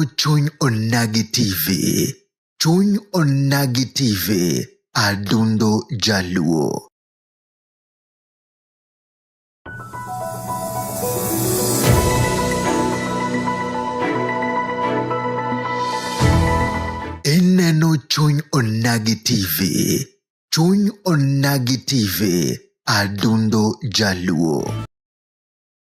chuny onagi tv chuny onagi tv adundo jaluo ineno chuny onagi tv chuny onagi tv adundo jaluo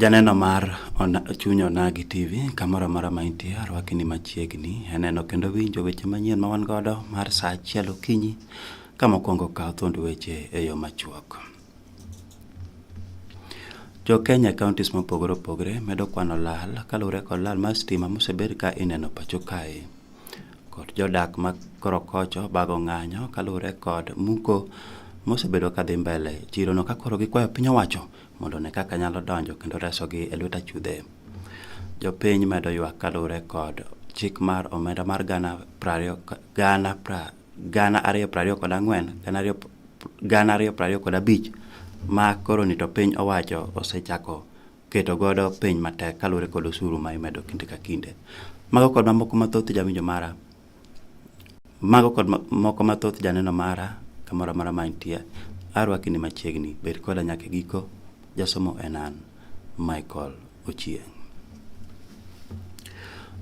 Janeno mar chuny onagi TV kamoro amora ma intie arwaki ni machiegni aneno kendo winjo weche manyien ma wan godo mar saa achiel okinyi ka mokwongo kawo thuond weche e yo machuok. Jo Kenya counties mopogore opogore medo kwano lal kaluwore kod lal mar stima mosebed ka ineno pacho kae. kod jodak ma Korokocho bago ng'anyo kaluwore kod muko mosebedo ka dhi mbele e chirono ka koro gikwayo piny owacho mondo one kaka nyalo donjo kendo resogi e lwet achudhe. Jopiny medo ywak kaluwore kod chik mar omenda mar gana prariyo gana pra gana ariyo prariyo kod ang'wen gana ariyo gana ariyo prariyo kod abich ma koroni to piny owacho osechako keto godo piny matek kaluwore kod osuru ma imedo kinde ka kinde. Mago kod mamoko mathoth jawinjo mara, mago kod moko mathoth janeno mara kamoro amora ma intie, arwaki ni machiegni, bed koda nyaka giko. Jasomo en an Michael Ochieng'.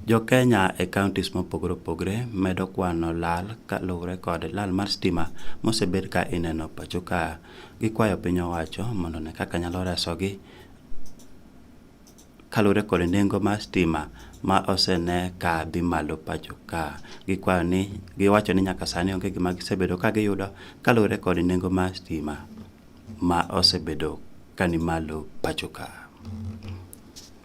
Jo-Kenya e counties mopogore opogore medo kwano lal kaluwore kod lal mar stima mosebed ka ineno pacho ka. Gikwayo piny owacho mondo one kaka nyalo resogi kaluwore kod nengo mar stima ma osene ka dhi malo pacho ka. Gikwayo ni giwacho ni nyaka sani onge gima gisebedo ka giyudo kaluwore kod nengo mar stima ma osebedo ka ni malo pacho ka.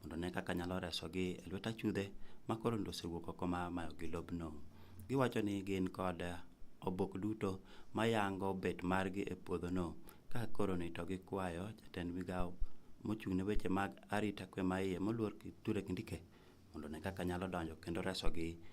mondo ne kaka nyalo resogi e lwet achudhe ma koro ndo osewuok oko ma mayogi lobno. Giwacho ni gin kod obok duto mayango bet margi e puodhono ka koro ni to gikwayo jatend migawo mochung' ne weche mag arita kwe ma iye moluor Kithure Kindike mondo ne kaka nyalo donjo kendo resogi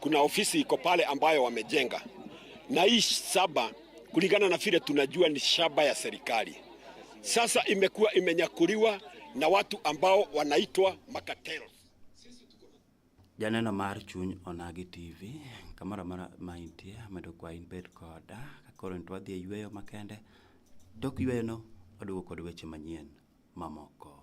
Kuna ofisi iko pale ambayo wamejenga, na hii saba kulingana na vile tunajua ni shamba ya serikali, sasa imekuwa imenyakuliwa na watu ambao wanaitwa makatelo. Janeno mar chuny onagi TV kamoro amora ma intie medo kwa in bed koda kakoro nito wadhi e yueyo makende tok yueyono waduogo kod weche manyien mamoko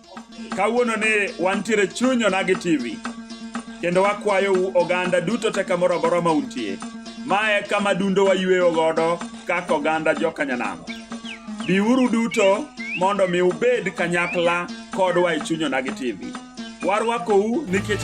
Kawuono ni wantiere chuny onagi TV kendo wakwayou oganda duto te kamoro amora ma untie. Ma e kama dundo wayueyo godo kaka oganda jokanyanamo. Biuru duto mondo mi ubed kanyakla kodwa e chuny onagi TV. Warwakou nikech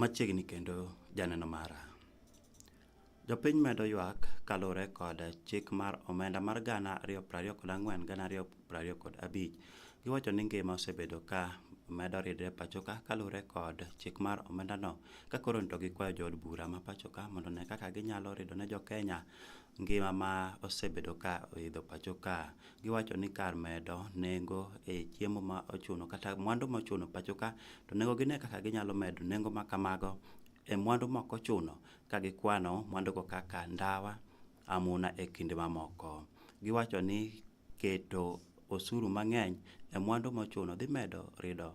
Machiegni kendo janeno mara. Jopiny medo ywak kaluwore kod chik mar omenda mar gana ariyo prariyo kod ang'wen gana ariyo prariyo kod abich. Giwacho ni ngima osebedo ka medo ridre pachoka kaluwore kod chik mar omendano ka koro to gikwayo jood bura ma pachoka mondo one kaka ginyalo rido ne jokenya ngima ma osebedo ka oidho pachoka. giwacho ni kar medo nengo e chiemo ma ochuno kata mwandu ma ochuno pacho ka to nengo gine kaka ginyalo medo nengo ma kamago e mwandu ma ok ochuno ka gikwano mwandugo kaka ndawa, amuna e kind mamoko. Giwacho ni keto osuru mang'eny e mwandu mochuno dhi medo rido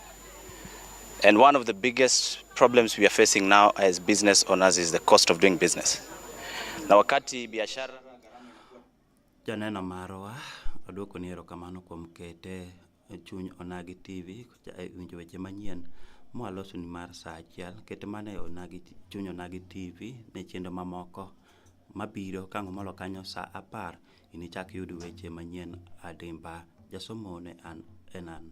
And one of the biggest problems we are facing now as business owners is the cost of doing business. Na wakati biashara janeno marwa aduoko ni erokamano kuom kete e chuny Onagi TV e winjo weche manyien mwaloso ni mar saa achiel kete mana e Onagi chuny Onagi TV ne chenro mamoko mabiro kang'o molo kanyo saa apar inichak yud weche manyien adimba jasomo ne an enan